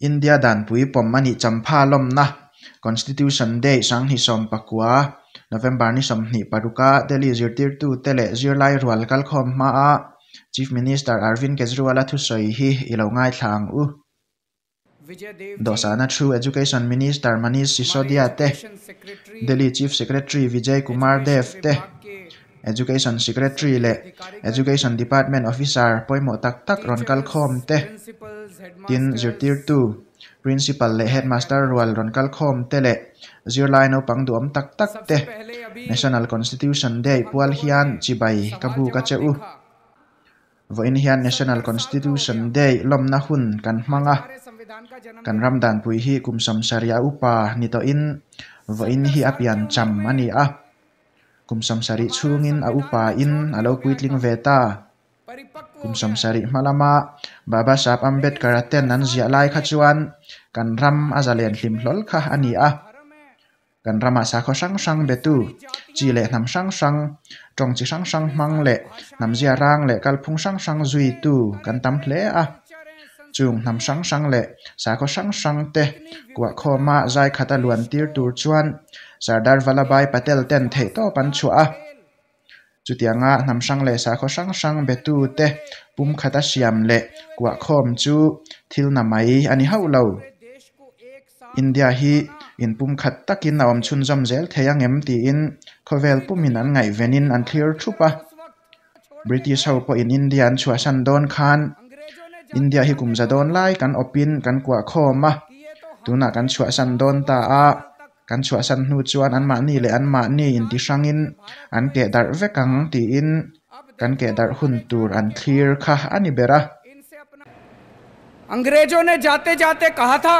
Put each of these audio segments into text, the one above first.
India danpui pawm a nih champha lawmna, Constitution Day, Sanghi sawm pakua, November ni sawmhnih paruka Delhi zirtirtute leh zirlai rual kalkhawm hmaa Chief Minister Arvind Kejriwal-a thusawi hi i lo ngaithla ang u. Dawhsahna thu Education Minister Manish Sisodia te, Delhi Chief Secretary Vijay Kumar Dev te, Education Secretary leh Education Department Officer pawimawh tak tak rawn kal khawm te, tin zirtirtu, Principal leh Headmaster rual rawn kal khawm te leh zirlai naupang duhawm tak tak te National Constitution Day pual hian chibai ka bu ka che u. Vawiin hian National Constitution Day lawmna hun kan hmang a, kan ram danpui hi kum samsari a upa ni tawhin vawiin hi a piancham a ni a. Kum Samsarih chhungin a upa in a lo puitling ve ta. Kum Samsarih hma lama Babasaheb Ambedkar-a tent an ziah lai kha chuan kan ram a zalen hlim hlawl kha a ni a. Kan ramah sakhaw hrang hrang betu, chi leh hnam hrang hrang, tawng chi hrang hrang hmang leh hnam zia rang leh kalphung hrang hrang zuitu kan tam hle a. Chung hnam hrang hrang leh sakhaw hrang hrang te kuah khawma zai khat a luan tir tur chuan Sardar Vallabhbhai Patel ten theihtawp an chhuah a. Chutianga hnam hrang leh sakhaw hrang hrang betu te pum khat a siam leh kuah khawm chu thil na mai a ni hauh lo. India hi in pum khat takin a awm chhunzawm zel thei a ngem tiin khawvel pumin an ngaihvenin an thlir thup a. British ho pawhin India an chhuahsan dawn khan India hi kum za dawn lai kan awpin kan kuah khawm a, tunah kan chhuahsan dawn ta a, kan chhuahsan hnu chuan anmahni leh anmahni intihrangin an keh darh vek ang tiin kan keh darh hun tur an thlir kha a ni ber a. Angrezone jate jate kaha tha.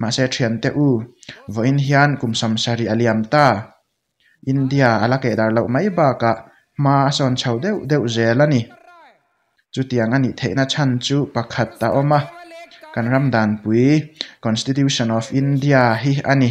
Mahse thiante u, vawiin hian kum sam sarih a liam ta. India a la keh dar loh mai bakah hma a sawn chho deuh deuh zel a ni. Chutiang a nih theihna chhan chu pakhat a awm a, kan ram danpui Constitution of India hi a ni.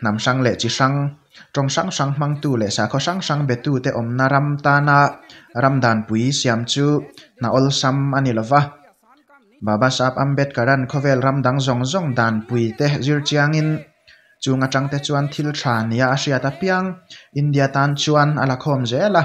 Hnam hrang leh chi hrang, tawng hrang hrang hmangtu leh sakhaw hrang hrang betute awmna ram tana ram danpui siam chu hna awlsam a ni lova. Babasaheb Ambedkaran khawvel ram dang zawng zawng danpui te zir chiangin chung atangte chuan thil tha nia a hriat apiang India tan chuan a la khawm zel a.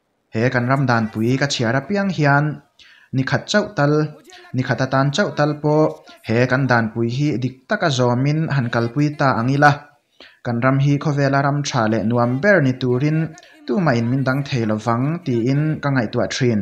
He kan ram danpui ka chhiar apiang hian nikhat chauh tal, nikhat atan chauh tal pawh he kan danpui hi dik taka zawmin han kalpui ta ang ila, kan ram hi khawvela ram tha leh nuam ber ni turin tumain min dang thei lovang tiin ka ngaihtuah thin.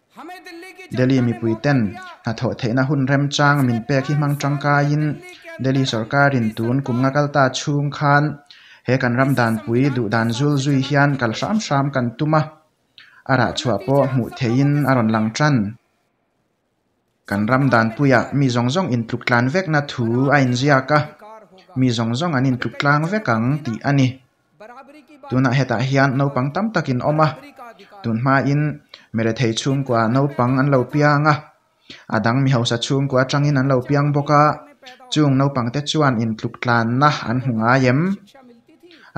Delhi mipui ten hnathawh theihna hun remchang min pek hi hmang tangkai in Delhi sorkar in tun kum nga kal ta chhung khan he kan ram dan pui duh dan zul zui hian kal hram hram kan tum a a rah chhuah pawh hmuh theih in a rawn lang tan. Kan ram danpuia mi zawng zawng intluktlan vekna thu a inziak a, mi zawng zawng an intluktlang vek ang tih a ni. Tunah hetah hian naupang tam takin awm a, tun hmain mi rethei chhungkua naupang an lo piang a, a dang mi hausa chhungkua atangin an lo piang bawk a, chung naupangte chuan intluktlanna an hmu ngai em?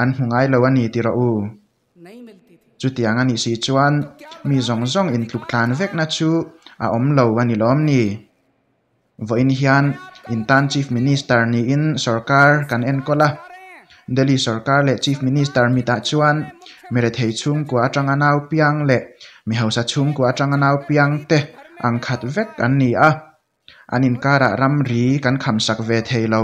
An hmu ngai lo a ni ti rawh u. Chutiang a nih si chuan mi zawng zawng in tluk tlan vekna chu a awm lo a ni lawm ni? Vawiin hian in tan Chief Minister niin sorkar kan enkawl a, Delhi sorkar leh Chief Minister mitah chuan mi rethei chhungkua atanga naupiang leh mi hausa chhungkua atanga naupiang te ang khat vek an ni a, an inkarah ramri kan khamsak ve thei lo.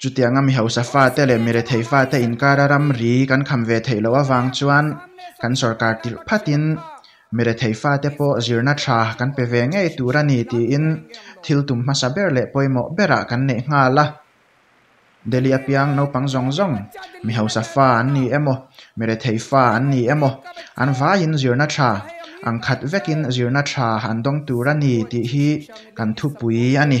Chutianga mi hausa fate leh mi rethei fate inkara ramri kan kham ve theih loh avang chuan kan sorkar tirh phatin mi rethei fate pawh zirna thla kan pe ve ngei tur a ni tiin thil tum hmasa ber leh pawimawh berah kan neih nghal a. Delhi apiang naupang zawng zawng mi hausa fa an ni emaw, mi rethei fa an ni emaw an vaiin zirna thla ang khat vekin zirna thla an dawng tur a ni tih hi kan thupui a ni.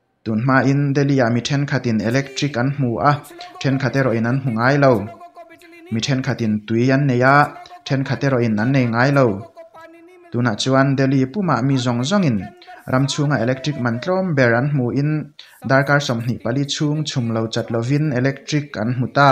Tun hmain Delhi-ah mi thenkhatin electric an hmu a, thenkhat erawhin an hmu ngai lo. Mi thenkhatin tui an nei a, thenkhat erawhin an nei ngai lo. Tunah chuan Delhi pumah mi zawng zawngin ram chhunga electric man tlawm ber an hmuin darkar sawmhnih pali chhung chhum lo chat lovin electric an hmu ta.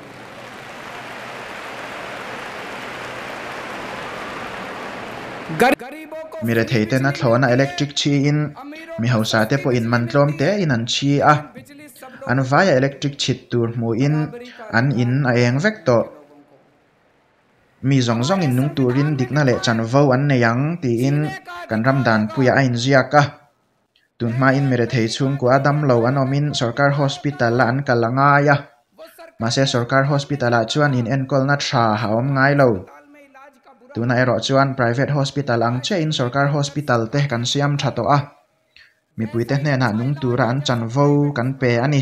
Mi rethei tena thlawna electric chhi in mi hausa te pawh in man tlawm te in an chhi a, an vaia electric chhit tur hmuh in an in a eng vek tawh. Mi zawng zawng in nung turin dikna leh chanvo an nei ang tiin kan ram dan puiah a in ziak a. tun hmain Merethei chhungkua damlo an awmin Sorkar Hospital-a an kal a ngai a. Mahse Sorkar Hospital-ah chuan inenkawl-na tha a awm ngai lo. Tunah erawh chuan Private Hospital ang chiahin Sorkar Hospital-te kan siam tha tawh a, mipuite hnenah nung tura an chanvo kan pe a ni.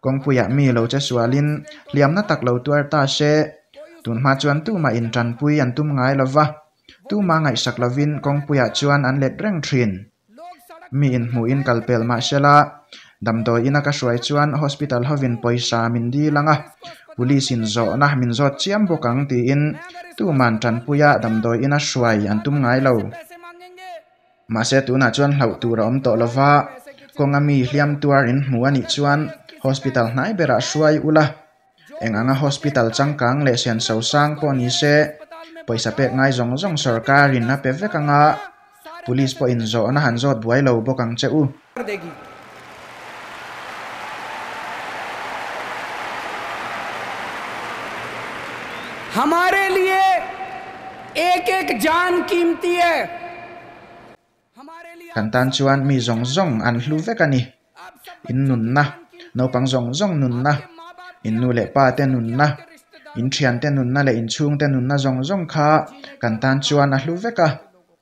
Kawngpuiah mi lo che sualin hliamna tak lo tuar ta se. Tunhma chuan Tuma in tanpui an tum ngai lo va, Tuma ngaihsak lovin kawngpuiah chuan an let reng thin. Mi in hmuh in kal pel mah sela, damdawi ina ka hruai chuan hospital hovin pawisa min dil ang a, police in zawhna min zawt chiam bawk ang tiin Tuma'n tanpuia damdawi ina hruai an tum ngai lo. Mahse tunah chuan hlauh tur a awm tawh lova, kawng ami hliam tuar in hmu a nih chuan hospital hnai berah hruai ula, eng anga hospital changkang leh sian so sang pawh ni se, pawisa pek ngai zawng zawng sorkarin a pe vek anga, police pawhin zawhna han zawt buai lo bawk ang che u. Kan tan chuan mi zawng zawng an hlu vek a ni. In nunna, naupang zawng zawng nunna, in nu leh pa te nunna, in thiante nunna leh in chhungte nunna zawng zawng kha kan tan chuan a hlu vek a.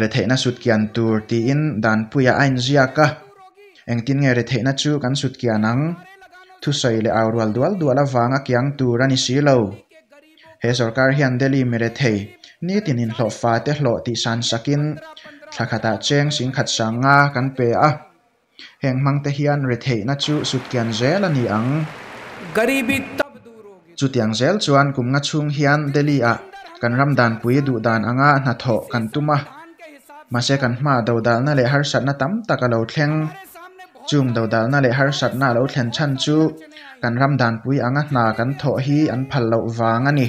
Retheihna sutkian tur tiin Danpuia a inziak a, engtin nge retheihna chu kan sutkian ang? Thusawi leh au rual dual dual avanga kiang tur a ni si lo. He sorkar hian Delhi mi rethei nitin inhlawh fate hlawh tih sansakin thlakhatah cheng sing khat sang nga kan pe a, Heng hmangte hian retheihna chu sutkian zel a ni ang. Chutiang zel chuan kum nga chhung hian Delhi-ah kan ram danpui duh dan anga hna thawh kan tum a. Mahse kan hmaah dodalna leh harsatna tam tak a lo thleng. Chung dodalna leh harsatna a lo thlen chhan chu kan ram danpui anga hna kan thawh hi an phal loh vang a ni.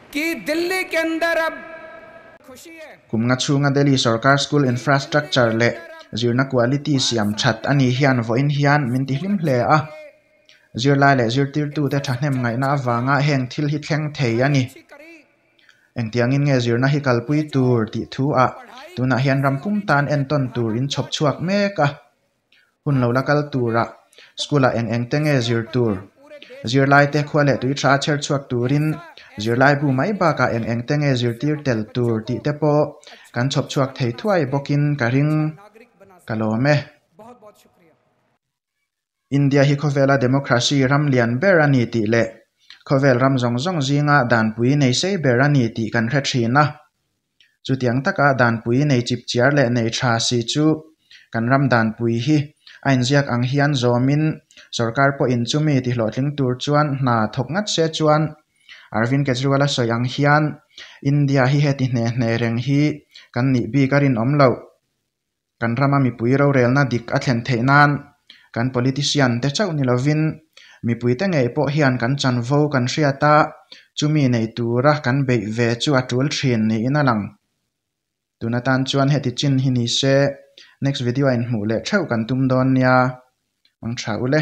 Ki Delhi Kendar a khushi e. Kum nga chhunga Delhi sawrkar school infrastructure leh zirna quality siam that a nih hian vawiin hian min ti hlim hle a. Zirlai leh zirtirtute thahnem ngaihna avanga heng thil hi thleng thei a ni. Engtiangin nge zirna hi kalpui tur tih thu ah tunah hian rampung tan entawn tur in chhawp chhuak mek a. Hun lo la kal turah School ah eng eng te nge zir tur, zirlai te khua leh tui tha chher chhuak turin zirlaibu mai bakah eng eng te nge zirtir tel tur tih te pawh kan chhawp chhuak thei thuai bawkin ka ring ka lawm e. India hi khawvela Democracy ram lian ber a ni tih leh khawvel ram zawng zawng zinga danpui nei sei ber a ni tih kan hre thin a. Chutiang taka danpui nei chip chiar leh nei tha si chu kan ram danpui hi a inziak ang hian zawmin sorkar pawhin chumi tihlawhtling tur chuan hna thawk ngat se chuan Arvind Kejriwal a sawi ang hian India hi heti hne hne reng hi kan nih bik a rinawm loh. Kan rama mipui rorelna dik a thlen theih nan kan politician te chauh ni lovin mipuite ngei pawh hian kan chanvo kan hriat a, chumi nei tura kan beih ve chu a tul thin niin a lang. Tun atan chuan heti chin hi ni se next video-ah inhmuh leh theuh kan tum dawn nia. Hmang tha ule.